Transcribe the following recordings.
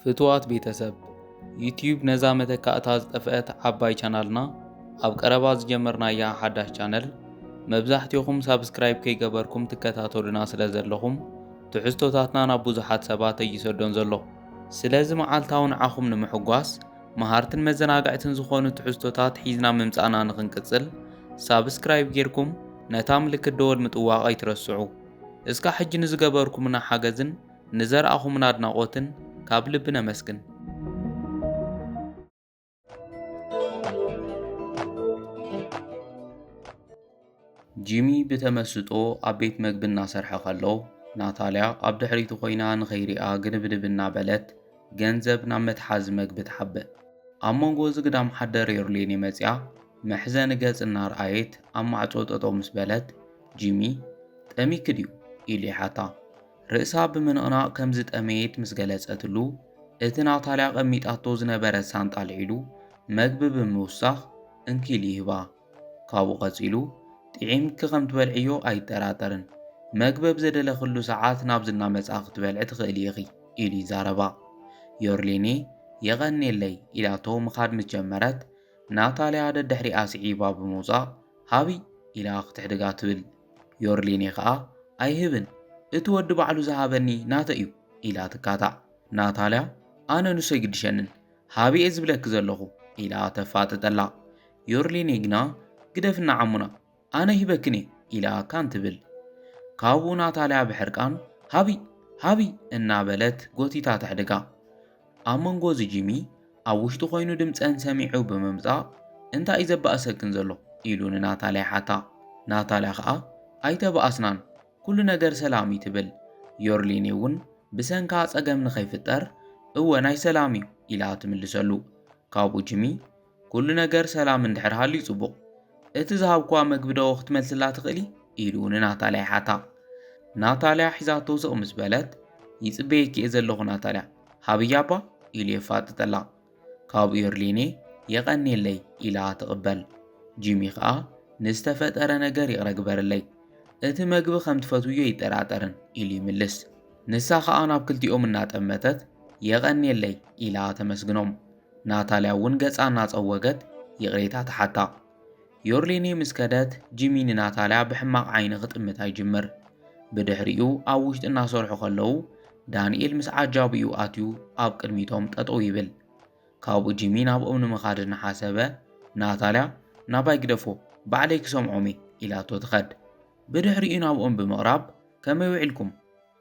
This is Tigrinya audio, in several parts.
ፍቱዋት ቤተሰብ ዩትዩብ ነዛ መተካእታ ዝጠፍአት ዓባይ ቻናልና ኣብ ቀረባ ዝጀመርናያ ሓዳሽ ቻነል መብዛሕትኹም ሳብስክራይብ ከይገበርኩም ትከታተሉና ስለ ዘለኹም ትሕዝቶታትና ናብ ብዙሓት ሰባት ኣይሰዶን ዘሎ ስለዚ መዓልታዊ ንዓኹም ንምሕጓስ መሃርትን መዘናግዕትን ዝኾኑ ትሕዝቶታት ሒዝና ምምጻእና ንኽንቅጽል ሳብስክራይብ ጌርኩም ነታ ምልክት ደወል ምጥዋቕ ኣይትረስዑ። እስካ ሕጂ ንዝገበርኩምና ሓገዝን ንዘርኣኹምና ኣድናቖትን ካብ ልቢ ነመስግን። ጂሚ ብተመስጦ ኣብ ቤት መግቢ እናሰርሐ ከሎ፣ ናታልያ ኣብ ድሕሪቱ ኮይና ንኸይሪኣ ግንብንብ እናበለት ገንዘብ ናብ መትሓዚ መግቢ ትሓብእ። ኣብ መንጎ እዚ ግዳም ሓደር ዮርሌኔ መጺኣ መሕዘኒ ገጽ እናርኣየት ኣብ ማዕጾ ጠጠው ምስ በለት፣ ጂሚ ጠሚኪ ድዩ? ኢሉ ይሓታ። ርእሳ ብምንቕናቕ ከም ዝጠመየት ምስ ገለጸትሉ፣ እቲ ናታልያ ኣቐሚጣቶ ዝነበረት ሳንጣ ኣልዒሉ መግቢ ብምውሳኽ እንኪ ኢሉ ይህባ። ካብኡ ቀጺሉ፣ ጥዒምኪ ከም ትበልዕዮ ኣይጠራጠርን። መግቢ ኣብ ዘደለኽሉ ሰዓት ናብዚ እናመጻኺ ክትበልዒ ትኽእሊ ኢኺ፣ ኢሉ ይዛረባ። ዮርሊኒ፣ የቐንየለይ፣ ኢላቶ ምኻድ ምስ ጀመረት፣ ናታልያ ደድሕሪኣ ስዒባ ብምውጻእ ሃብይ! ኢላ ክትሕድጋ ትብል። ዮርሊኔ ከኣ ኣይህብን እቲ ወዲ ባዕሉ ዝሃበኒ ናተይ እዩ ኢላ ትካታዕ። ናታልያ ኣነ ንሱ ኣይግድሸንን ሃቢ እየ ዝብለኪ ዘለኹ ኢላ ተፋጥጠላ። ዮርሊኔ ግና ግደፍና ዓሙና ኣነ ሂበክን እየ ኢላ ካን ትብል። ካብኡ ናታልያ ብሕርቃን ሃቢ ሃቢ እናበለት ጎቲታ ተሕድጋ። ኣብ መንጎ እዚ ጂሚ ኣብ ውሽጡ ኮይኑ ድምፀን ሰሚዑ ብምምፃእ እንታይ እዩ ዘባእሰክን ዘሎ ኢሉ ንናታልያ ይሓታ። ናታልያ ከዓ ኣይተባኣስናን ኩሉ ነገር ሰላም እዩ ትብል። ዮርሊኔ እውን ብሰንካ ፀገም ንኸይፍጠር እወ ናይ ሰላም እዩ ኢላ ትምልሰሉ። ካብኡ ጂሚ ኩሉ ነገር ሰላም እንድሕር ሃልዩ ጽቡቕ፣ እቲ ዝሃብኩዋ መግቢ ዶ ክትመልስላ ትኽእሊ? ኢሉ ንናታልያ ይሓታ። ናታልያ ሒዛቶ ስቕ ምስ በለት፣ ይጽበየኪ'የ ዘለኹ ናታልያ፣ ሃብያ'ባ ኢሉ የፋጥጠላ። ካብኡ ዮርሌኔ የቐንየለይ ኢላ ትቕበል። ጂሚ ከኣ ንዝተፈጠረ ነገር ይቕረ ግበርለይ፣ እቲ መግቢ ከም ትፈትውዮ ኣይጠራጠርን ኢሉ ይምልስ። ንሳ ከኣ ናብ ክልቲኦም እናጠመተት የቐንየለይ ኢላ ተመስግኖም። ናታልያ እውን ገጻ እናጸወገት ይቕሬታ ተሓታ። ዮርሊኒ ምስ ከደት፣ ጂሚ ንናታልያ ብሕማቕ ዓይኒ ክጥምታ ይጅምር። ብድሕሪኡ ኣብ ውሽጢ እናሰርሑ ከለዉ ዳንኤል ምስ ዓጃቢኡ ኣትዩ ኣብ ቅድሚቶም ጠጠው ይብል። ካብኡ ጂሚ ናብኦም ንምኻድ እናሓሰበ ናታልያ ናባይ ግደፎ ባዕለይ ክሰምዖም እየ ኢላቶ ትኸድ። ብድሕሪኡ ናብኦም ብምቕራብ ከመይ ውዒልኩም?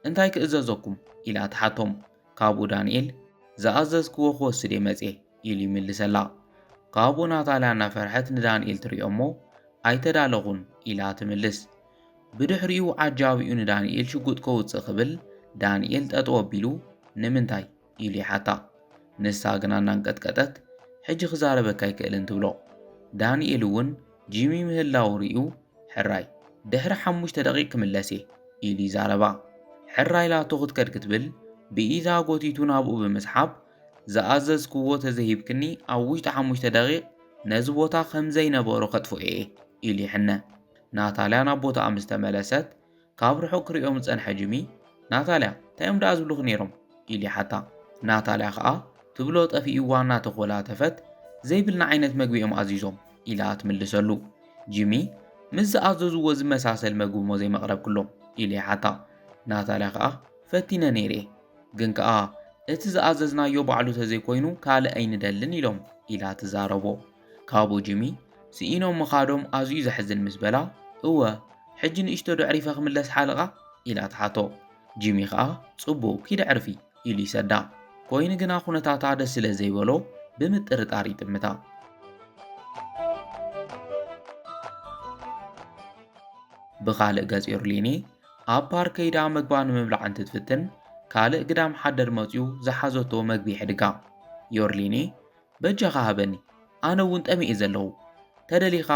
እንታይ ክእዘዘኩም? ኢላ ትሓቶም። ካብኡ ዳንኤል፣ ዝኣዘዝክዎ ክወስድ እየ መጺኤ፣ ኢሉ ይምልሰላ። ካብኡ ናታልያ እናፈርሐት ንዳንኤል ትሪኦ እሞ፣ ኣይተዳለኹን፣ ኢላ ትምልስ። ብድሕሪኡ ዓጃቢኡ ንዳንኤል ሽጉጥ ከውጽእ ክብል፣ ዳንኤል ጠጠው ኣቢሉ፣ ንምንታይ? ኢሉ ይሓታ። ንሳ ግና እናንቀጥቀጠት ሕጂ ክዛረበካ ኣይክእልን ትብሎ። ዳንኤል እውን ጂሚ ምህላዉ ርእዩ ሕራይ ድሕሪ ሓሙሽተ ደቒቕ ክምለስ እየ ኢሉ ይዛረባ። ሕራይ ላቶ ክትከድ ክትብል ብኢዳ ጎቲቱ ናብኡ ብምስሓብ ዝኣዘዝክዎ ተዘይሂብክኒ ኣብ ውሽጢ ሓሙሽተ ደቒቕ ነዚ ቦታ ከምዘይነበሮ ከጥፍኦ እየ ኢሉ ይሕነ። ናታልያ ናብ ቦታኣ ምስ ተመለሰት ካብ ርሑቕ ክርእዮም ዝጸንሐ ጂሚ፣ ናታልያ፣ እንታይ'ዮም ደኣ ዝብሉኺ ነይሮም? ኢሉ ይሓታ። ናታልያ ከኣ፣ ትብሎ ጠፊእዋ እናተኾላተፈት፣ ዘይብልና ዓይነት መግቢ'ዮም ኣዚዞም፣ ኢላ ትምልሰሉ። ጂሚ፣ ምስ ዝኣዘዙዎ ዝመሳሰል መግቢ'ሞ ዘይመቕረብክሎም? ኢሉ ይሓታ። ናታልያ ከኣ፣ ፈቲነ ነይረ'የ። ግን ከኣ፣ እቲ ዝኣዘዝናዮ ባዕሉ ተዘይኮይኑ ካልእ ኣይንደልን ኢሎም፣ ኢላ ትዛረቦ። ካብኡ ጂሚ ስኢኖም ምኻዶም ኣዝዩ ዘሕዝን ምስ በላ እወ ሕጂ ንእሽቶ ደዕሪፈ ክምለስ ሓልቓ ኢላ ትሓቶ ጂሚ ከኣ ጽቡቕ ኪድ ዕርፊ ኢሉ ይሰዳ ኮይኑ ግና ኩነታታ ደስ ስለ ዘይበሎ ብምጥርጣር ይጥምታ ብኻልእ ገጽ ዮርሊኒ ኣብ ፓርክ ከይዳ መግባ ንምብላዕ እንትትፍትን ካልእ ግዳም ሓደር መጽዩ ዝሓዘቶ መግቢ ሕድጋ ዮርሊኒ በጃኻ ሃበኒ ኣነ እውን ጠሚየ ዘለኹ ተደሊኻ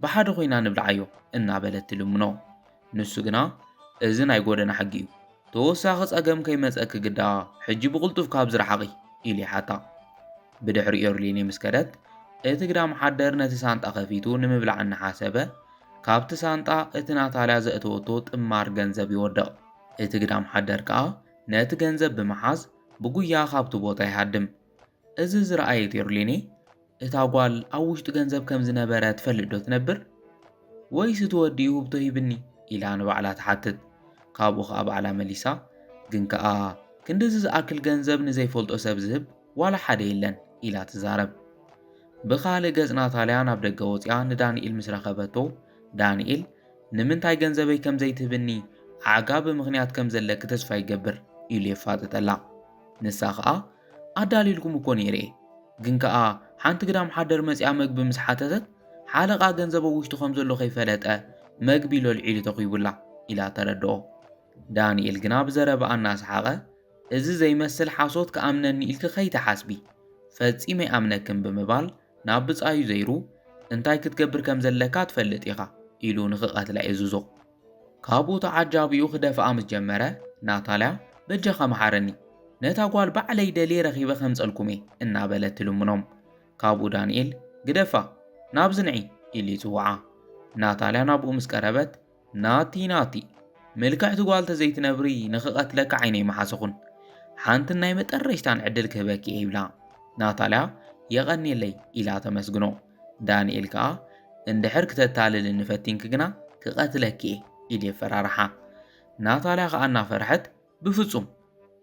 ብሓደ ኮይና ንብልዓዮ እናበለት ትልምኖ ንሱ ግና እዚ ናይ ጎደና ሕጊ እዩ ተወሳኺ ጸገም ከይመጸኪ ግዳ ሕጂ ብቕልጡፍ ካብዚ ረሓቒ ኢሉ ይሓታ ብድሕሪ ዮርሊኒ ምስ ከደት እቲ ግዳም ሓደር ነቲ ሳንጣ ከፊቱ ንምብላዕ እናሓሰበ ካብቲ ሳንጣ እቲ ናታልያ ዘእተወቶ ጥማር ገንዘብ ይወድቕ እቲ ግዳም ሓደር ከኣ ነቲ ገንዘብ ብምሓዝ ብጉያ ካብቲ ቦታ ይሃድም እዚ ዝረኣየት ኤርሊኔ እታ ጓል ኣብ ውሽጢ ገንዘብ ከም ዝነበረ ትፈልጥ ዶ ትነብር? ወይስ እቲ ወዲ እዩ ህብቶ ሂብኒ? ኢላ ንባዕላ ትሓትት። ካብኡ ከኣ ባዕላ መሊሳ ግን ከኣ ክንድዚ ዝኣክል ገንዘብ ንዘይፈልጦ ሰብ ዝህብ ዋላ ሓደ የለን ኢላ ትዛረብ። ብኻልእ ገጽ ናታልያ ናብ ደገ ወጺኣ ንዳኒኤል ምስ ረኸበቶ ዳኒኤል ንምንታይ ገንዘበይ ከም ዘይትህብኒ ኣዕጋቢ ምኽንያት ከም ዘለኪ ተስፋ ይገብር ኢሉ የፋጥጠላ። ንሳ ከኣ ኣዳሊልኩም እኮ ነይረ ግን ከኣ ሓንቲ ግዳም ሓደር መጽያ መግቢ ምስ ሓተተት ሓለቓ ገንዘቦ ውሽጡ ከም ዘሎ ከይፈለጠ መግቢ ሎልዒሉ ተኺቡላ ኢላ ተረድኦ። ዳንኤል ግና ብዘረባኣ እናሰሓቐ እዚ ዘይመስል ሓሶት ክኣምነኒ ኢልኪ ከይትሓስቢ ፈጺመ ይኣምነክን ብምባል ናብ ብጻዩ ዘይሩ እንታይ ክትገብር ከም ዘለካ ትፈልጥ ኢኻ ኢሉ ንክቐትላ የዝዞ። ካብኡ ተዓጃቢኡ ክደፍኣ ምስ ጀመረ፣ ናታልያ በጃኻ መሓረኒ፣ ነታ ጓል ባዕለይ ደልየ ረኺበ ከምጸልኩም'የ እናበለት ትልምኖም። ካብኡ ዳንኤል ግደፋ! ናብዚ ንዒ! ኢሉ ይጽውዓ። ናታልያ ናብኡ ምስ ቀረበት፣ ናቲ ናቲ! ምልክዕቲ ጓል ተዘይትነብሪ ንኽቐትለኪ ዓይነይ ምሓሰኹን። ሓንትን ናይ መጠረሽታን ዕድል ክህበኪ'የ ይብላ። ናታልያ የቐንየለይ ኢላ ተመስግኖ። ዳንኤል ከኣ እንድሕር ክተታልልኒ ፈቲንኪ ግና ክቐትለኪ እየ ኢሉ የፈራርሓ። ናታልያ ከኣ እናፈርሐት ብፍጹም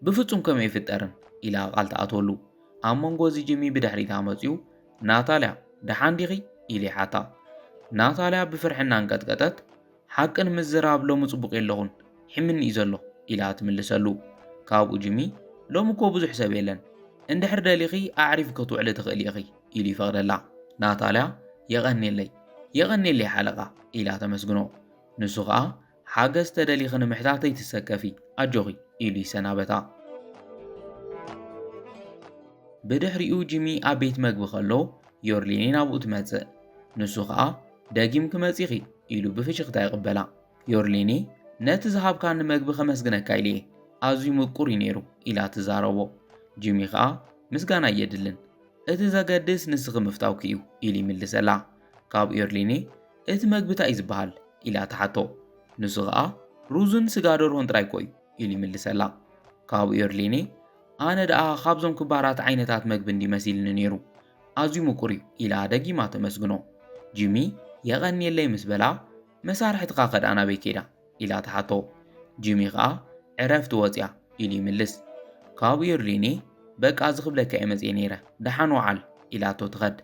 ብፍጹም ከምኡ ኣይፍጠርን ኢላ ቃል ትኣትወሉ። ኣብ መንጎ እዚ ጂሚ ብድሕሪታ መጺኡ ናታልያ ደሓን ዲኺ ኢሉ ይሓታ። ናታልያ ብፍርሒ እናንቀጥቀጠት ሓቂ ንምዝራብ ሎሚ ጽቡቕ የለኹን ሒምኒ እዩ ዘሎ ኢላ ትምልሰሉ። ካብኡ ጂሚ ሎሚ እኮ ብዙሕ ሰብ የለን እንድሕር ደሊኺ ኣዕሪፊ ክትውዕሊ ትኽእሊ ኢኺ ኢሉ ይፈቕደላ። ናታልያ የቐኔለይ የቐኔለይ ሓለቓ ኢላ ተመስግኖ። ንሱ ኸኣ ሓገዝ ተደሊኺ ንምሕታት ኣይትሰከፊ ኣጆኺ ኢሉ ይሰናበታ። ብድሕሪኡ ጂሚ ኣብ ቤት መግቢ ከሎ ዮርሊኒ ናብኡ ትመጽእ። ንሱ ኸኣ ደጊም ክመጺኺ ኢሉ ብፍሽኽታ ይቕበላ። ዮርሊኒ ነቲ ዝሃብካኒ መግቢ ከመስግነካ ኢለ እየ ኣዝዩ ምቁር እዩ ነይሩ ኢላ ትዛረቦ። ጂሚ ኸኣ ምስጋና እየድልን እቲ ዘገድስ ንስኺ ምፍታውኪ እዩ ኢሉ ይምልሰላ። ካብኡ የርሊኒ እቲ መግቢ ታይ እዩ ዝበሃል ኢላ ትሓቶ። ንሱ ኸኣ ሩዝን ስጋ ደርሆን ጥራይ እኮ እዩ ኢሉ ይምልሰላ። ካብኡ የርሊኒ ኣነ ደኣ ካብዞም ክባራት ዓይነታት መግቢ እንድዩ መሲልኒ ነይሩ ኣዝዩ ምቁር እዩ ኢላ ደጊማ ተመስግኖ። ጂሚ የቐንየለይ ምስ በላ መሳርሕትኻ ከ ደኣ ናበይ ከይዳ? ኢላ ትሓቶ። ጂሚ ከኣ ዕረፍቲ ወጺኣ ኢሉ ይምልስ። ካብኡ የርሊኒ በቃ እዚ ክብለካ እየ መጺኤ ነይረ ደሓን ወዓል ኢላቶ ትኸድ።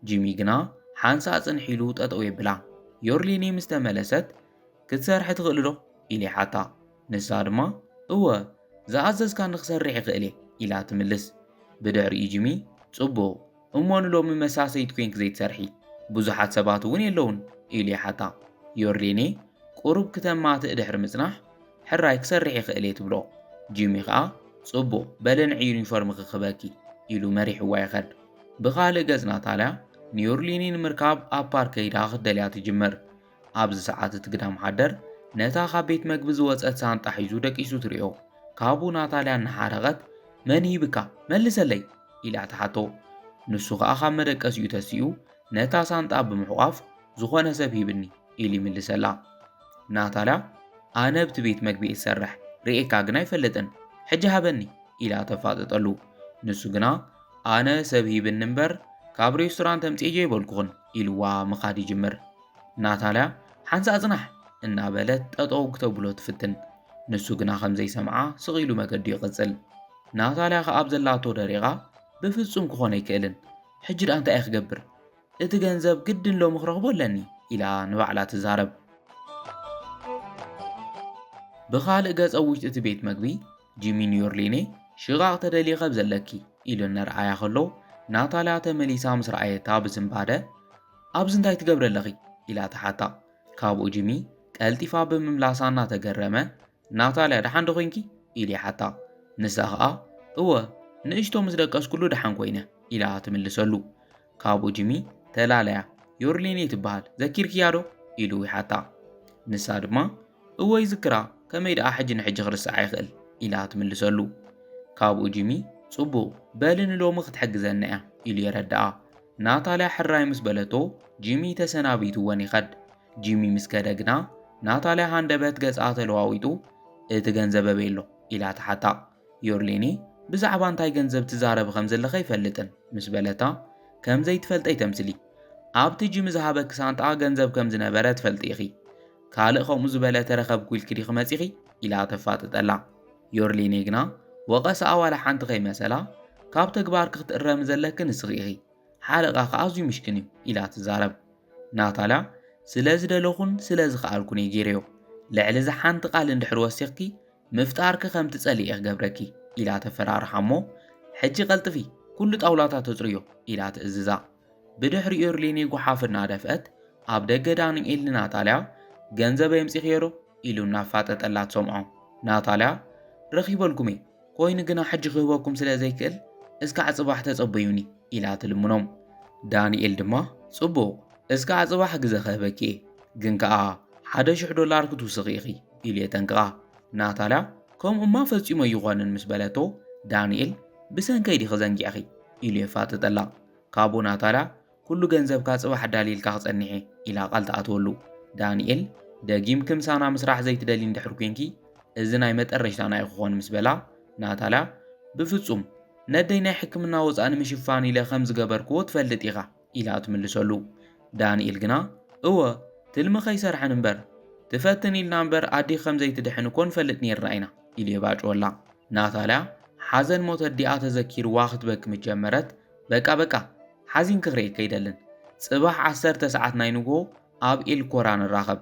ጂሚ ግና ሓንሳእ ጽንሕ ኢሉ ጠጠው የብላ። ዮርሊኒ ምስ ተመለሰት ክትሰርሒ ትኽእሊ ዶ? ኢሉ ይሓታ። ንሳ ድማ እወ ዝኣዘዝካኒ ክሰርሕ ይኽእል እየ ኢላ ትምልስ። ብድሕሪኡ ጂሚ ጽቡቕ እሞ ንሎሚ መሳሰይት ኮይንኪ ዘይትሰርሒ ብዙሓት ሰባት እውን የለውን? ኢሉ ይሓታ። ዮርሌኔ ቁሩብ ክተማትእ ድሕሪ ምጽናሕ፣ ሕራይ ክሰርሕ ይኽእል እየ ትብሎ። ጂሚ ከኣ ጽቡቕ፣ በለ ንዒ ዩኒፎርምኺ ክህበኪ፣ ኢሉ መሪሕዋ ይኸድ። ብኻልእ ገጽ ናታልያ ንዮርሌኔ ንምርካብ ኣብ ፓርክ ከይዳ ክትደልያ ትጅምር። ኣብዚ ሰዓት እቲ ግዳም ሓደር ነታ ካብ ቤት መግቢ ዝወጸት ሳንጣ ሒዙ ደቂሱ ትርእዮ። ካብኡ ናታልያ እናሓረቐት መን ሂብካ መልሰለይ ኢላ ትሓቶ። ንሱ ከኣ ካብ መደቀሲኡ ተሲኡ ነታ ሳንጣ ብምሕቋፍ ዝኾነ ሰብ ሂብኒ ኢሉ ይምልሰላ። ናታልያ ኣነ ኣብቲ ቤት መግቢ እየ ዝሰርሕ ርእየካ ግን ኣይፈልጥን ሕጂ ሃበኒ ኢላ ተፋጥጠሉ። ንሱ ግና ኣነ ሰብ ሂብኒ እምበር ካብ ሬስቶራንት ኣምጺኤዮ ኣይበልኩኽን ኢሉዋ ምኻድ ይጅምር። ናታልያ ሓንሳእ ጽናሕ እናበለት ጠጠው ክተብሎ ትፍትን፣ ንሱ ግና ከም ዘይሰምዓ ስቕ ኢሉ መገዱ ይቕጽል። ናታልያ ከኣ ኣብ ዘላቶ ደሪቓ ብፍጹም ክኾን ኣይክእልን፣ ሕጂ ድኣ እንታይ እየ ክገብር? እቲ ገንዘብ ግድን ሎሚ ክረኽቦ ኣለኒ ኢላ ንባዕላ ትዛረብ። ብኻልእ ገጽ ኣብ ውሽጢ እቲ ቤት መግቢ ጂሚ ኒዮርሊኔ ሽቓቕ ተደልየ ኸብ ዘለኪ ኢሉ እነርኣያ ኸሎ ናታልያ ተመሊሳ ምስ ረኣየታ ብዝንባደ ኣብዚ እንታይ ትገብረ ኣለኺ ኢላ ተሓታ ካብኡ ጂሚ ቀልጢፋ ብምምላሳ እናተገረመ ናታልያ ደሓን ዶ ኮንኪ ኢሉ ይሓታ ንሳ ኸኣ እወ ንእሽቶ ምስ ደቀስኩሉ ደሓን ኮይነ ኢላ ትምልሰሉ ካብኡ ጂሚ ተላለያ። ዮርሊን እየ ትበሃል ዘኪርክያ ዶ? ኢሉ ይሓታ። ንሳ ድማ እወ ይዝክራ፣ ከመይ ደኣ ሕጂ ንሕጂ ክርስዓ ይኽእል? ኢላ ትምልሰሉ። ካብኡ ጂሚ ጽቡቕ በሊ ንሎሚ ክትሕግዘና እያ ኢሉ የረድኣ። ናታልያ ሕራይ ምስ በለቶ ጂሚ ተሰናቢትወን ይኸድ። ጂሚ ምስ ከደ ግና ናታልያ ሃንደበት ገጻ ተለዋዊጡ እቲ ገንዘብ ኣበይ ኣሎ? ኢላ ትሓታ። ዮርሌኒ ብዛዕባ እንታይ ገንዘብ ትዛረቢ ከም ዘለኺ ኣይፈልጥን ምስ በለታ፣ ከም ዘይትፈልጠይ ተምስሊ። ኣብቲ ጂሚ ዝሃበኪ ሳንጣ ገንዘብ ከም ዝነበረ ትፈልጢ ኢኺ። ካልእ ከምኡ ዝበለ ተረኸብኩ ኢልኪ ዲኺ መጺኺ? ኢላ ተፋጥጠላ። ዮርሌኒ ግና ወቐሳኣ ዋላ ሓንቲ ከይመሰላ፣ ካብ ተግባርኪ ክትእረሚ ዘለኪ ንስኺ ኢኺ። ሓለቓኺ ኣዝዩ ምሽክን እዩ፣ ኢላ ትዛረብ። ናታልያ፣ ስለ ዝደለኹን ስለ ዝኸኣልኩን እየ ገይረዮ። ልዕሊ እዚ ሓንቲ ቃል እንድሕር ወሲኽኪ፣ ምፍጣርኪ ከም ትጸልኢ እየ ክገብረኪ ኢላ ተፈራርሓ እሞ ሕጂ ቀልጥፊ ኩሉ ጣውላታት ተጽርዮ ኢላ ትእዝዛ። ብድሕሪኡ እርሊኒ ጉሓፍ እናደፍአት ኣብ ደገ ዳንኤል ንናታልያ ገንዘብ የምጺኽዮዶ ኢሉ እናፋጠጠላ ትሰምዖ። ናታልያ ረኺበልኩም እየ ኮይኑ ግና ሕጂ ክህበኩም ስለ ዘይክእል እስካዕ ጽባሕ ተጸበዩኒ ኢላ ትልምኖም። ዳንኤል ድማ ጽቡቕ እስካዕ ጽባሕ ግዘ ክህበኪ እየ ግን ከኣ ሓደ ሽሕ ዶላር ክትውስኺ ኢኺ ኢሉ የጠንቅቓ። ናታልያ ከምኡ እማ ፈጺሙ ኣይኾንን ምስ በለቶ፣ ዳንኤል ብሰንከይ ዲኺ ዘንጊዕኺ? ኢሉ የፋጥጠላ። ካብኡ ናታልያ ኩሉ ገንዘብካ ጽባሕ ኣዳልየልካ ክጸንሕ እየ ኢላ ቃል ትኣትወሉ። ዳንኤል ደጊምኪ ምሳና ምስራሕ ዘይትደልዪ እንድሕር ኲንኪ እዚ ናይ መጠረሽታና እዩ ክኾን ምስ በላ፣ ናታልያ ብፍጹም ነደይ ናይ ሕክምና ወጻእ ንምሽፋን ኢለ ከም ዝገበርክዎ ትፈልጥ ኢኻ። ኢላ ትምልሰሉ። ዳንኤል ግና እወ ትልሚ ከይሰርሐን እምበር ትፈትን ኢልና እምበር ኣዲኪ ከም ዘይትድሕን እኮ ንፈልጥ ኔርና ኢና ኢሉ የባጭወላ። ናታልያ ሓዘን ሞት ኣዲኣ ተዘኪርዋ ክትበኪ ምስ ጀመረት በቃ በቃ ሓዚንኪ ክርእየኪ ኣይደልን ጽባሕ ዓሰርተ ሰዓት ናይ ንግሆ ኣብ ኤልኮራ ንራኸብ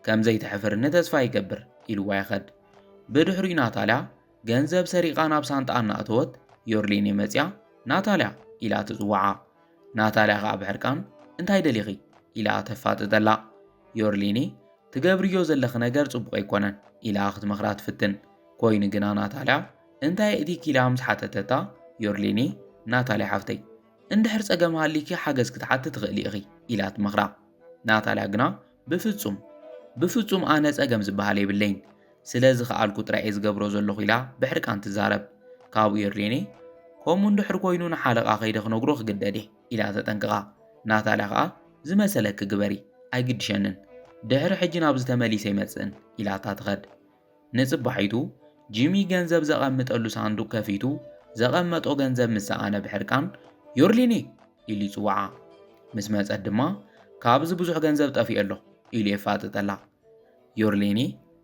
ከም ዘይትሕፍርኒ ተስፋ ይገብር ኢልዋ ይኸድ። ብድሕሪኡ ናታልያ ገንዘብ ሰሪቓ ናብ ሳንጣኣ እናእተወት ዮርሌኔ መጺኣ ናታልያ ኢላ ትጽውዓ። ናታልያ ኸኣ ብሕርቃን እንታይ ደሊኺ ኢላ ተፋጥጠላ። ዮርሊኒ ትገብርዮ ዘለኺ ነገር ጽቡቕ ኣይኮነን ኢላ ክትመኽራ ትፍትን። ኮይኑ ግና ናታልያ እንታይ የእቲኪ ኢላ ምስ ሓተተታ ዮርሊኒ ናታልያ ሓፍተይ እንድሕር ጸገም ሃሊኪ ሓገዝ ክትሓቲ ትኽእሊ ኢኺ ኢላ ትመኽራ። ናታልያ ግና፣ ብፍጹም! ብፍጹም ኣነ ጸገም ዝበሃል የብለይን፣ ስለ ዝኸኣልኩ ጥራይ'የ ዝገብሮ ዘለኹ ኢላ ብሕርቃን ትዛረብ። ካብኡ የድልየኒ? ከምኡ እንድሕር ኰይኑ ንሓለቓ ከይደ ክነግሮ ክግደድ'የ፣ ኢላ ተጠንቅቓ። ናታልያ ከኣ፣ ዝመሰለኪ ግበሪ፣ ኣይግድሸንን። ድሕሪ ሕጂ ናብዚ ተመሊሰ ኣይመጽእን፣ ኢላታ ትኸድ። ንጽባሒቱ ጂሚ ገንዘብ ዘቐምጠሉ ሳንዱቕ ከፊቱ ዘቐመጦ ገንዘብ ምስ ሰኣነ ብሕርቃን ዮርሊኒ ኢሉ ይጽውዓ። ምስ መጸት ድማ ካብዚ ብዙሕ ገንዘብ ጠፊኡ ኣሎ ኢሉ የፋጥጠላ። ዮርሊኒ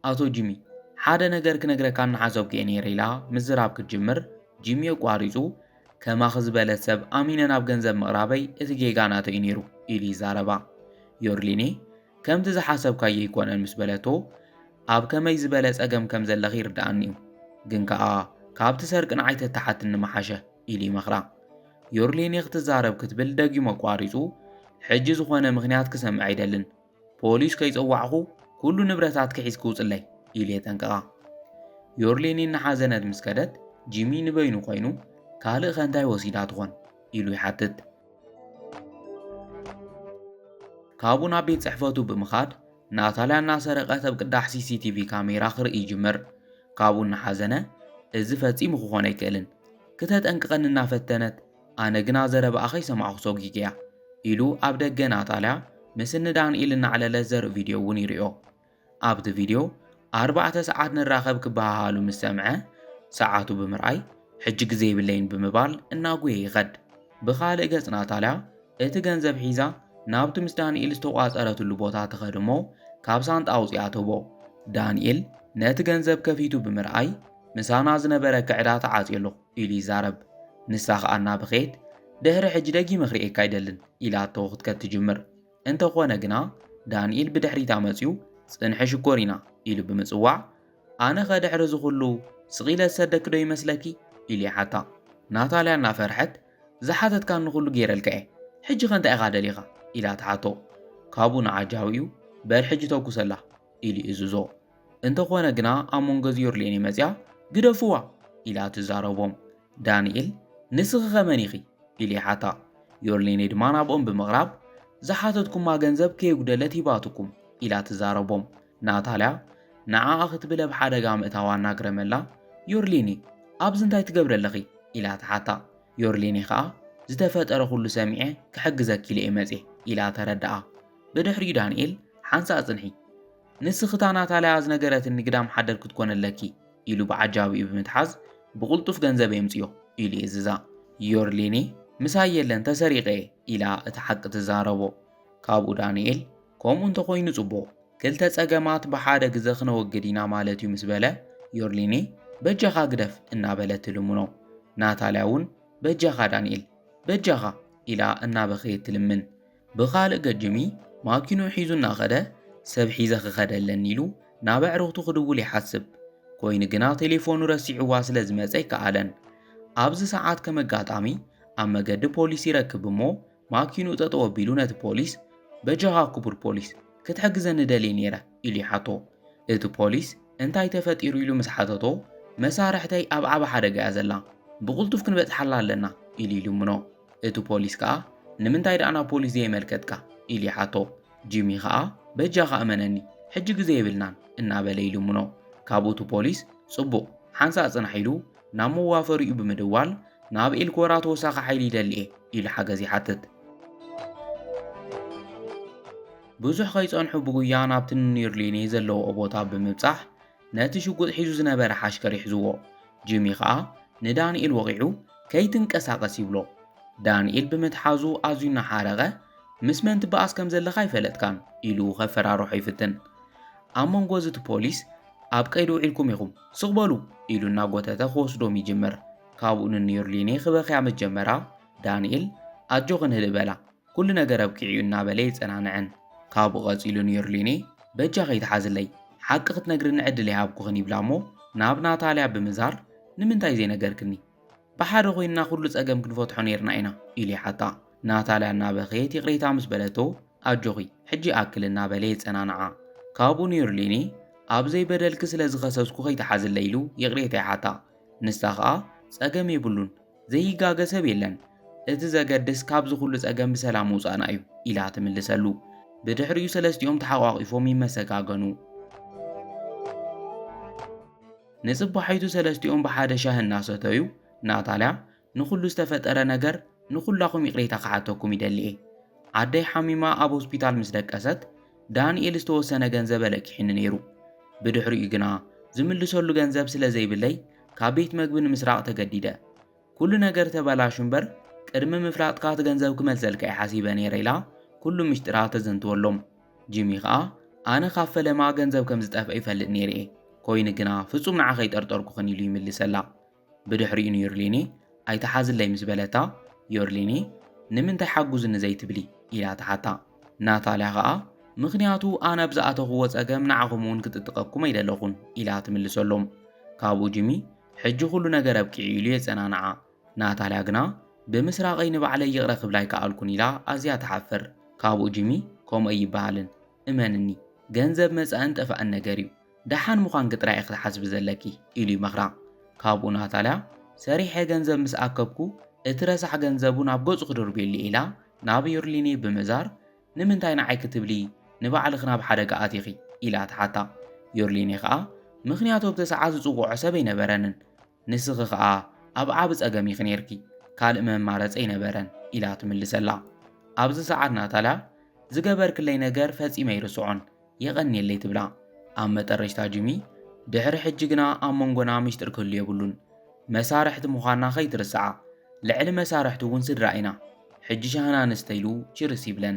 ኣቶ ጂሚ ሓደ ነገር ክነግረካ እናሓሰብኩ እየ ነይረ ኢላ ምዝራብ ክትጅምር ጂሚ ኣቋሪጹ ከማኺ ዝበለት ሰብ ኣሚነ ናብ ገንዘብ ምቕራበይ እቲ ጌጋ ናተይ እዩ ነይሩ ኢሉ ይዛረባ። ዮርሊኒ ከምቲ ዝሓሰብካዮ ኣይኰነን ምስ በለቶ፣ ኣብ ከመይ ዝበለ ጸገም ከም ዘለኺ ይርድኣኒ'ዩ፣ ግን ከኣ ካብቲ ሰርቂ ንዓይ ተተሓትኒ ምሓሸ፣ ኢሉ ይመኽራ። ዮርሊኒ ክትዛረብ ክትብል ደጊሙ ኣቋሪጹ፣ ሕጂ ዝዀነ ምኽንያት ክሰምዕ ኣይደልን፣ ፖሊስ ከይጸዋዕኩ ኵሉ ንብረታትኪ ሒዝኪ ውጽለይ፣ ኢሉ የጠንቅቓ። ዮርሊኒ እናሓዘነት ምስ ከደት፣ ጂሚ ንበይኑ ኰይኑ፣ ካልእከ እንታይ ወሲዳ ትዀን? ኢሉ ይሓትት። ካብኡ ናብ ቤት ጽሕፈቱ ብምኻድ ናታልያ እናሰረቐ ኣብ ቅዳሕ ሲሲቲቪ ካሜራ ክርኢ ይጅምር ካብኡ እናሓዘነ እዚ ፈጺሙ ክኾን ኣይክእልን ክተጠንቅቐኒ እናፈተነት ኣነ ግና ዘረባኣ ከይሰማዕኹ ሰጒግ እያ ኢሉ ኣብ ደገ ናታልያ ምስ እኒ ዳንኤል እናዕለለ ዘርኢ ቪድዮ እውን ይርዮ ኣብቲ ቪድዮ ኣርባዕተ ሰዓት ንራኸብ ክበሃሃሉ ምስ ሰምዐ ሰዓቱ ብምርኣይ ሕጂ ግዜ የብለይን ብምባል እናጉየ ይኸድ። ብኻልእ ገጽ ናታልያ እቲ ገንዘብ ሒዛ ናብቲ ምስ ዳንኤል ዝተቋጸረትሉ ቦታ ትኸድ እሞ ካብ ሳንጣ ኣውጺኣ ትህቦ። ዳንኤል ነቲ ገንዘብ ከፊቱ ብምርኣይ ምሳና ዝነበረ ክዕዳ ተዓጽዮ ኣለኹ ኢሉ ይዛረብ። ንሳ ከኣ እናበኸየት ድሕሪ ሕጂ ደጊመ ክርእየካ ኣይደልን ኢላቶ ክትከድ ትጅምር። እንተኾነ ግና ዳንኤል ብድሕሪታ መጺኡ ጽንሒ ሽኮሪና ኢሉ ብምጽዋዕ ኣነኸ ድሕሪ እዚ ኩሉ ስቕ ኢለ ዝሰደኪ ዶ ይመስለኪ ኢሉ ይሓታ። ናታልያ እናፈርሐት ዝሓተትካኒ ኩሉ ገይረልካ'የ ሕጂኸ እንታይ ኢኻ ደሊኻ ኢላ ትሓቶ። ካብኡ ንዓጃዊኡ በል ሕጂ ተኩሰላ ኢሉ ይእዝዞ። እንተኾነ ግና ኣብ መንጎ ዚዮርሌኒ መጺኣ ግደፍዋ ኢላ ትዛረቦም። ዳንኤል ንስኺኸ መን ኢኺ? ኢሉ ይሓታ። ዮርሌኒ ድማ ናብኦም ብምቕራብ ዝሓተትኩማ ገንዘብ ከየጉደለት ሂባትኩም ኢላ ትዛረቦም። ናታልያ ንዓኣ ክትብል ኣብ ሓደጋ ምእታዋ እናግረመላ ዮርሌኒ ኣብዚ እንታይ ትገብሪ ኣለኺ? ኢላ ትሓታ። ዮርሌኒ ከኣ ዝተፈጠረ ኩሉ ሰሚዐ ክሕግዘኪ ኢለ'የ መጺኤ ኢላ ተረድኣ። ብድሕሪኡ ዳንኤል ሓንሳእ ጽንሒ! ንስኺ እታ ናታልያ ዝነገረትኒ ግዳም ሓደር ክትኮኒ ኣለኪ ኢሉ ብዓጃቢኡ ብምትሓዝ ብቕልጡፍ ገንዘበይ ኣምጽዮ ኢሉ የእዝዛ። ዮርሊኒ ምሳይ የለን ተሰሪቐ እየ ኢላ እቲ ሓቂ ትዛረቦ። ካብኡ ዳንኤል ከምኡ እንተኾይኑ ጽቡቕ ክልተ ጸገማት ብሓደ ግዘ ክነወግድ ኢና ማለት እዩ ምስ በለ ዮርሊኒ በጃኻ ግደፍ እናበለት ትልምኖ። ናታልያ እውን በጃኻ ዳንኤል በጃኻ ኢላ እናበኸየት ትልምን። ብኻልእ ገጅሚ ማኪንኡ ሒዙ እናኸደ ሰብ ሒዘ ክኸድ ኣለኒ ኢሉ ናብ ኣዕርኽቱ ክድውል ይሓስብ። ኮይኑ ግና ቴሌፎኑ ረሲዕዋ ስለ ዝመጸ ኣይከኣለን። ኣብዚ ሰዓት ከም ኣጋጣሚ ኣብ መገዲ ፖሊስ ይረክብ እሞ ማኪንኡ ጠጠው ኣቢሉ ነቲ ፖሊስ በጃኻ ክቡር ፖሊስ ክትሕግዘኒ ደልየ ነይረ ኢሉ ይሓቶ። እቲ ፖሊስ እንታይ ተፈጢሩ ኢሉ ምስ ሓተቶ መሳርሕተይ ኣብ ዓቢ ሓደጋ'ያ ዘላ ብቕልጡፍ ክንበጽሓላ ኣለና ኢሉ ይልምኖ። እቱ ፖሊስ ከኣ ንምንታይ ደኣ ናብ ፖሊስ ዘየመልከትካ ኢሉ ይሓቶ። ጂሚ ከኣ በጃኻ እመነኒ ሕጂ ግዘ የብልናን እናበለ ይልምኖ። ካብኡ እቱ ፖሊስ ፅቡቕ ሓንሳእ ፅናሕ ኢሉ ናብ መዋፈሪኡ ብምድዋል ናብ ኤልኮራ ተወሳኺ ሓይሊ ይደሊ እየ ኢሉ ሓገዝ ይሓትት። ብዙሕ ከይፀንሑ ብጉያ ናብቲ ንኒርሊኔ ዘለውኦ ቦታ ብምብፃሕ ነቲ ሽጉጥ ሒዙ ዝነበረ ሓሽከር ይሕዝዎ። ጂሚ ኸኣ ንዳንኤል ወቒዑ ከይትንቀሳቐስ ይብሎ። ዳንኤል ብምትሓዙ ኣዝዩ እናሓረቐ ምስ መን ትበኣስ ከም ዘለኻ ኣይፈለጥካን ኢሉ ከፈራርሖ ይፍትን። ኣብ መንጎ እዚ እቲ ፖሊስ ኣብ ቀይዲ ውዒልኩም ኢኹም ስቕ በሉ ኢሉ እናጎተተ ክወስዶም ይጅምር። ካብኡ ንኒርሊኔ ክበኽያ ምስ ጀመራ ዳንኤል ኣጆኽን ህድእ በላ ኩሉ ነገር ኣብቂዑ'ዩ እናበለ የጸናንዐን። ካብኡ ቀጺሉ ንዮርሊኔ በጃ ከይትሓዝለይ፣ ሓቂ ክትነግርኒ ዕድል ኣይሃብኩኽን ይብላ'ሞ ናብ ናታልያ ብምዛር ንምንታይ ዘይነገርክኒ? ብሓደ ኮይንና ኩሉ ጸገም ክንፈትሖ ኔርና ኢና ኢሉ ይሓታ። ናታልያ እናበኸየት ይቕሬታ ምስ በለቶ ኣጆኺ ሕጂ ይኣክል እናበለ የጸናንዓ። ካብኡ ንዮርሊኔ ኣብ ዘይበደልኪ ስለ ዝኸሰስኩ ከይትሓዝለይ ኢሉ ይቕሬታ ይሓታ። ንሳ ከኣ ጸገም የብሉን፣ ዘይጋገ ሰብ የለን፣ እቲ ዘገድስ ካብዚ ኩሉ ጸገም ብሰላም ምውጻእና እዩ ኢላ ትምልሰሉ። ብድሕሪኡ ሰለስቲኦም ተሓቋቒፎም ይመሰጋገኑ። ንጽባሒቱ ሰለስቲኦም ብሓደ ሻሂ እናሰተዩ ናታልያ ንኹሉ ዝተፈጠረ ነገር ንኹላኹም ይቕሬታ ክሓተኩም ይደሊ እየ። ኣደይ ሓሚማ ኣብ ሆስፒታል ምስ ደቀሰት ዳንኤል ዝተወሰነ ገንዘብ ኣለኪሒኒ ነይሩ። ብድሕሪኡ ግና ዝምልሰሉ ገንዘብ ስለ ዘይብለይ ካብ ቤት መግቢ ንምስራቕ ተገዲደ። ኩሉ ነገር ተበላሹ እምበር ቅድሚ ምፍላጥካ እቲ ገንዘብ ክመልሰልካ እየ ሓሲበ ነይረ ኢላ ኩሉ ምሽጥራ ተዘንትወሎም። ጂሚ ከኣ ኣነ ካብ ፈለማ ገንዘብ ከም ዝጠፍአ ይፈልጥ ነይረ እየ፣ ኮይኑ ግና ፍጹም ንዓኺ ኣይጠርጠርኩኽን ኢሉ ይምልሰላ። ብድሕሪኡ ኒርሊኒ ኣይትሓዝለይ ምስ በለታ ዮርሊኒ ንምንታይ ሓጉዝኒ ዘይትብሊ? ኢላ ትሓታ። ናታልያ ኸኣ ምኽንያቱ ኣነ ኣብ ዝኣተኹዎ ጸገም ንዓኹም'ውን ክጥጥቐኩም ኣይደለኹን ኢላ ትምልሰሎም። ካብኡ ጂሚ ሕጂ ኩሉ ነገር ኣብቂዑ ኢሉ የጸናንዓ። ናታልያ ግና ብምስራቐይ ንባዕለይ ይቕረ ክብላ ኣይከኣልኩን ኢላ ኣዝያ ትሓፍር። ካብኡ ጂሚ ከምኡ ኣይበሃልን እመንኒ ገንዘብ መጻእን ጠፋእን ነገር'ዩ። ደሓን ምዃንኪ ጥራይ ኢኺ ትሓስቢ ዘለኪ፣ ኢሉ ይመኽራ። ካብኡ ናታልያ፣ ሰሪሐ ገንዘብ ምስ ኣከብኩ፣ እቲ ረሳሕ ገንዘቡ ናብ ገጹ ክድርብየሉ ኢላ ናብ ዩርሊኔ ብምእዛር፣ ንምንታይ ንዓይ ክትብሊ ንባዕልኺ ናብ ሓደጋ ኣቲኺ? ኢላ ትሓታ። ዩርሊኔ ከኣ፣ ምኽንያቱ ኣብቲ ሰዓት ዝጽውዖ ሰብ ኣይነበረንን። ንስኺ ኸኣ ኣብ ዓቢ ጸገም ኢኺ ኔርኪ፣ ካልእ መማረጺ ኣይነበረን ኢላ ትምልሰላ። ኣብዚ ሰዓት ናታልያ ዝገበርክለይ ነገር ፈጺመ ኣይርስዖን፣ የቐንየለይ ትብላ። ኣብ መጠረሽታ ጂሚ ድሕሪ ሕጂ ግና ኣብ መንጎና ምሽጥር ክህሉ የብሉን፣ መሳርሕቲ ምዃንና ከይትርስዓ፣ ልዕሊ መሳርሕቲ እውን ስድራ ኢና፣ ሕጂ ሻህና ንስተ ኢሉ ቺርስ ይብለን።